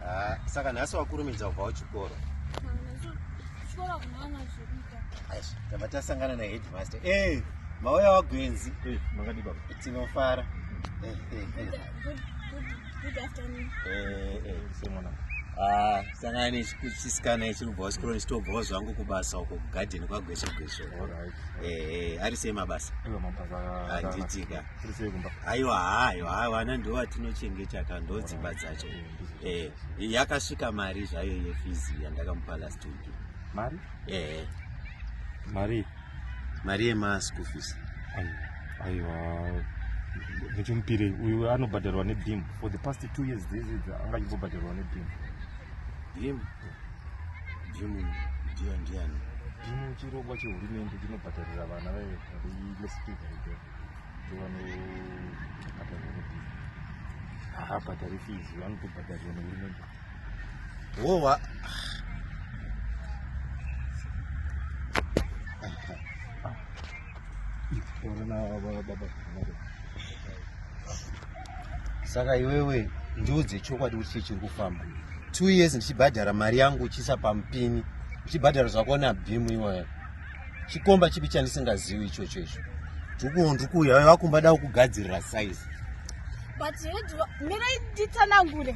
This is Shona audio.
Ah, saka nhasi wakurumidza kubvawo chikoro tava tasangana naheadmaster eh, mauya wagwenzi eh, tinofara ah, sangana nechisikana ichi kubvawo chikoro ndichitobvawo zvangu kubasa uko kugadheni kwagwesho gwesho ari sei mabasa handitika aiwa haiwa haiwa ana ndo vatinochengeta ka ndo dzimba dzacho eh, yakasvika mari zvayo yefizi yandakamupa last week mari eh. mari mari yemaschool fees aiwa ndichimupirei uyu anobhadharwa nebim for the past two years dzese anga achimbobhadharwa nebim bim bim ndiyo ndiyani bim chirongwa chehurumende chinobhadharira vana vaye haabhadhari fizi vanotobhadharirwa nehurumende wowa saka iwewe ndiudze chokwadi kuti chii chiri kufamba two years ndichibhadhara mari yangu uchisa pamupini uchibhadhara zvakona bhimu iwayo chikomba chipi chandisingazivi ichocho icho ndikuwo ndikuuya vave vakumba davo kugadzirira saizi but mirai nditsanangure